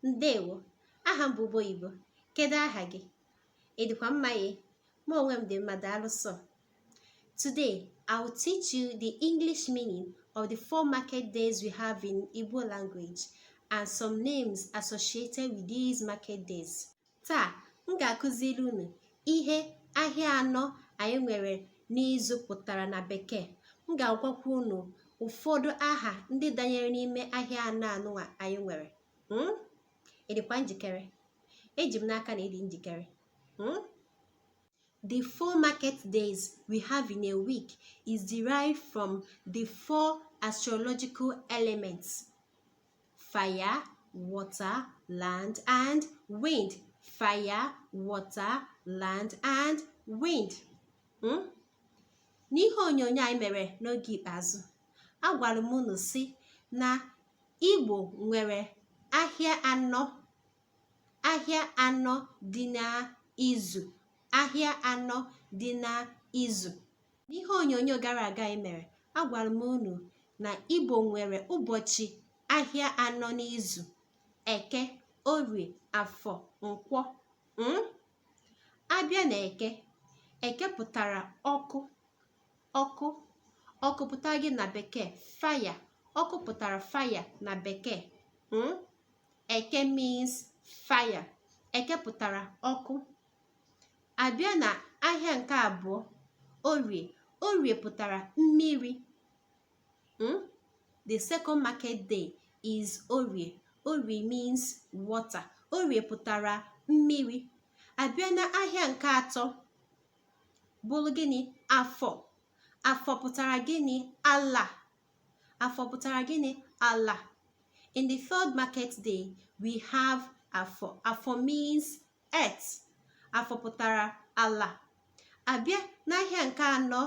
ndewo aha m bụ ube oyibo kedu aha gị ị dịkwa mma ee mụ onwe m dị mma daalụ sọ today i will teach you the english meaning of the four market days we have in igbo language and some names associated with these market days taa m ga-akụziri unu ihe ahịa anọ anyị nwere n'izu pụtara na bekee m ga-agwakwa unu ụfọdụ aha ndị danyere n'ime ahịa anọ anụwa anyị nwere hmm? ị dịkwa njikere eji m n'aka na ị dị njikere hmm? The four market days we have in a week is derived from the four astrological elements. fire water land and wind fire water land and wind hmm? n'ihe onyonyo anyị mere n'oge ikpeazụ agwara m unu sị na igbo nwere ahịa anọ ahịa anọ dị n'izu ahịa anọ dị n'izu n'ihe onyonyo gara aga anyị mere agwara m unu na igbo nwere ụbọchị ahịa anọ n'izu eke orie afọ nkwọ hmm? a bịa na eke eke pụtara ọkụ ọkụ ọkụ pụtara gịnị na bekee fire ọkụ pụtara fire na bekee hmm? eke means fire eke pụtara ọkụ a bịa na ahịa nke abụọ orie orie pụtara mmiri hmm? the second market day is orie orie means water orie pụtara mmiri a bịa na ahịa nke atọ bụrụ gịnị afọ afọ pụtara gịnị ala afọ pụtara gịnị ala in the third market day we have afọ afọ means earth afọ pụtara ala a bịa n'ahịa nke anọ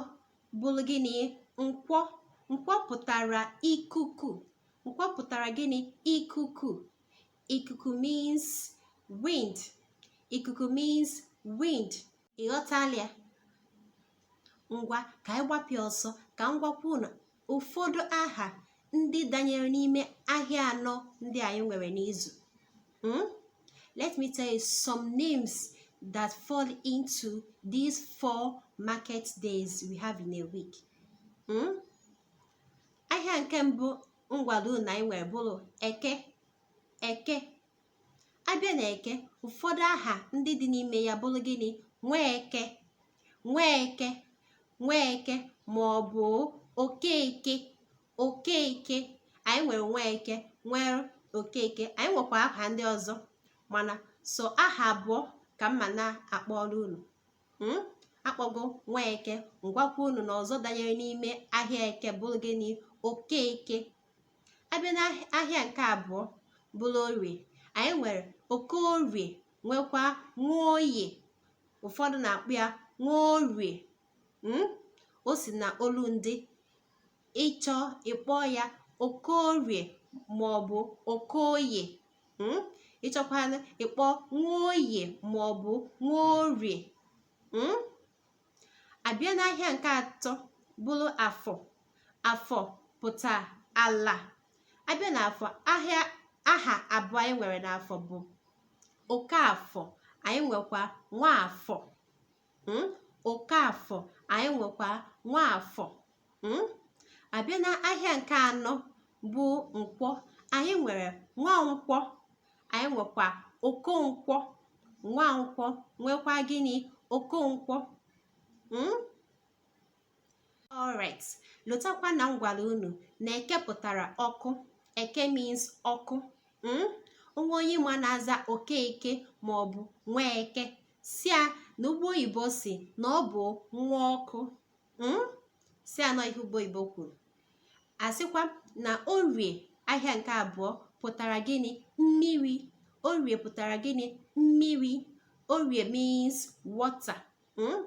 bụrụ gịnị nkwọ nkwọ pụtara ikuku nkwọ pụtara gịnị ikuku ikuku means wind ikuku means wind ị ghọtala ya ngwa ka anyị gbapịa ọsọ ka m gwakwa unu ụfọdụ aha ndị danyere n'ime ahịa anọ ndị anyị nwere n'izu hmm? let me tell you some names that fall into these four market days we have in a week hmm? ahịa nke mbụ m gwalụ unu na anyị nwere bụrụ eke eke abịa na eke ụfọdụ aha ndị dị n'ime ya bụrụ gịnị nweke nweke nweke ma ọ bụ okeke okeke anyị nwere nweke nwee okeke anyị nwekwa aha ndị ọzọ mana sọ aha abụọ ka m ma na-akpọrọ unu hmm? akpọgo nweke m gwakwa unu na ọzọ danyere n'ime ahịa eke bụrụ gịnị okeke abịa na ahịa nke abụọ bụrụ orie anyị nwere okorie nwekwa nwoye ụfọdụ na-akpọ ya nworie hmm? o si na olu ndị ịchọ ịkpọ ya okorie ma ọ bụ okoye hmm? ịchọkwa ịkpọ nwoye ma ọ bụ nworie hmm? abịa n'ahịa nke atọ bụrụ afọ afọ pụta ala abịa na afọ aha abụọ anyị nwere n'afọ bụ okafọ anyị nwekwa nwafọ hmm? okafọ anyị nwekwa nwafọ hmm? abịa na ahịa nke anọ bụ nkwọ anyị nwere nwankwọ anyị nwekwa okonkwọ nwankwọ nwekwa gịnị okonkwọ hmm? alright lotakwa na m gwara unu na eke pụtara ọkụ eke means ọkụ hmm? o nwee onye ị ma na-aza okeke maọbụ nweke sị ya na ugbo oyibo sị na ọ bụ nwa ọkụ hmm? sị ya na ọ ihe ugbo oyibo kwuru asịkwa na orie ahịa nke abụọ pụtara gịnị mmiri orie pụtara gịnị mmiri orie means water hmm?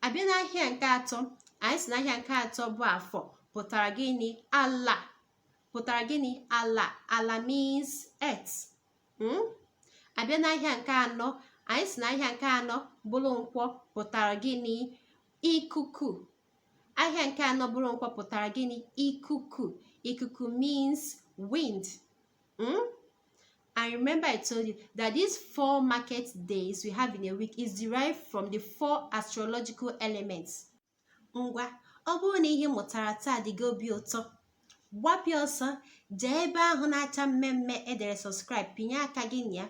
abịa n'ahịa nke atọ anyị sị na ahịa nke atọ bụ afọ pụtara gịnị ala pụtara gịnị ala ala means earth hmm? abịa n'ahịa nke anọ anyị sị na ahịa nke anọ bụrụ nkwọ pụtara gịnị ikuku ahịa nke anọ bụrụ nkwọ pụtara gịnị ikuku ikuku means wind hmm? I remember I told you that these four market days we have in a week is derived from the four astrological elements. Ngwa, ọ bụrụ na ihe ị mụtara taa dị gị obi ụtọ gbapịa ọsọ jee ebe ahụ na-acha mmee mmee edere subscribe pịnye aka gị na ya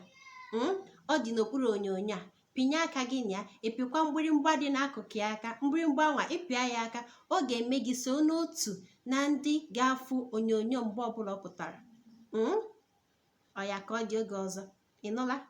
hmm? ọ dị n'okpuru onyonyo a pịnye aka gị na ya ịpịkwa mgbịrịmgba dị n'akụkụ ya aka mgbịrịmgba nwa ịpịa ya aka ọ ga-eme gị so n'otu na ndị ga-afụ onyonyo mgbe ọbụla ọ pụtara hmm? oya ka ọ dị oge ọzọ ịnụla